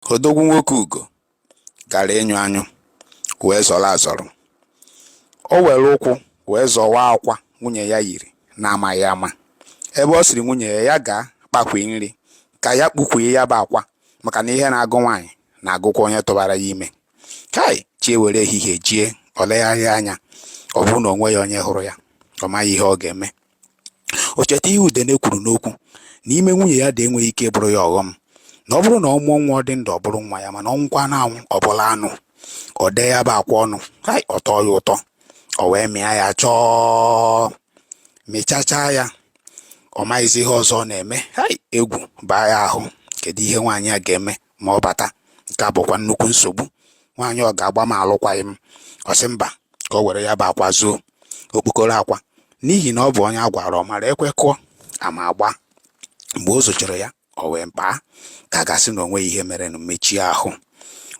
Odogwu nwoke ugo gara ịnyụ anyụ wee zọrọ azọrọ. O were ụkwụ wee zọwa akwa nwunye ya yiri na-amaghị ama. Ebe ọ sịrị nwunye ya gaa kpakwee nri ka ya kpukwee ya bụ akwa maka na ihe na-agụ nwaanyị na-agụkwa onye tụbara ya ime. Hai! Chi ewere ehihie jie, o legharịa anya, ọ bụrụ na o nweghị onye hụrụ ya, ọ maghị ihe ọ ga-eme. O cheta ihe Udene kwuru n'okwu na ime nwunye ya dị enweghị ike ịbụrụ ya ọghọm na ọ bụrụ na ọ mụọ nwa ọ dị ndụ ọ bụrụ nwa ya mana ọ nwụkwanụ anwụ ọ bụrụ anụ o dee ya bụ akwa ọnụ hai ọ tọọ ya ụtọ o wee mịa ya chọọ mịchachaa ya ọ maghịzi ihe ọzọ ọ na-eme hai egwu baa ya ahụ kedu ihe nwaanyị a ga-eme ma ọ bata nke a bụkwa nnukwu nsogbu nwaanyị ọ ga-agba m alụkwaghị m ọ sị mba ka o were ya bụ akwa zoo okpokoro akwa n'ihi na ọ bụ onye a gwara ọ mara ekwe kụọ ama agba mgbe o zochara ya o wee baa ka a ga-asị na o nweghị ihe merenụ mechie ahụ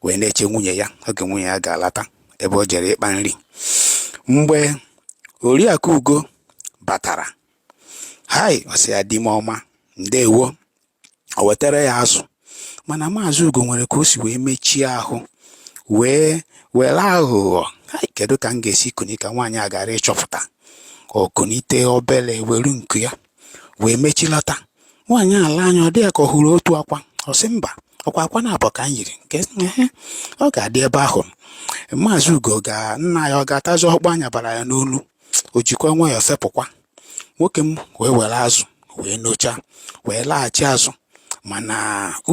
wee na-eche nwunye ya oge nwunye ya ga-alata ebe o jere ịkpa nri mgbe oriakụ ugo batara hai ọ sị ya di m ọma ndewo o wetara ya azụ mana maazị ugo nwere ka o si wee mechie ahụ wee were aghụghọ kedu ka m ga-esi kunie ka nwaanyị a ghara ịchọpụta o kunite obere were nku ya wee mechilata nwaanyị elee anya ọ dị ya ka ọ hụrụ otu akwa ọ sị mba ọ kwa akwa naabọ ka m yiri nke ọ ga-adị ebe ahụ maazị ugo ga nna ya ọ ga-atazi ọkpọ anya bara ya n'olu o jikwa nwayọọ fepụkwa nwoke m wee were azụ wee nochaa wee laghachi azụ mana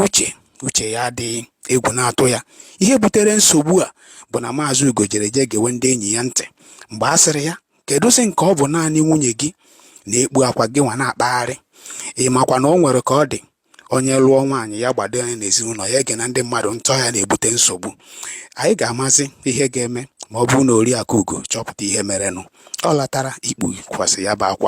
uche uche ya adịghị egwu na-atụ ya ihe butere nsogbu a bụ na maazị ugo jere jee gewe ndị enyi ya ntị mgbe a sịrị ya kedụzi nke ọ bụ naanị nwunye gị na-ekpu akwa gị nwa na-akpagharị ị makwa na o nwere ka ọ dị onye lụọ nwaanyị ya gbado anya n'ezinụlọ ya egena ndị mmadụ ntị ọ ya na-ebute nsogbu anyị ga-amazi ihe ga-eme ma ọ bụrụ na Oriakụ Ugo chọpụta ihe merenụ ọ latara ikpukwasị ya bụ akwa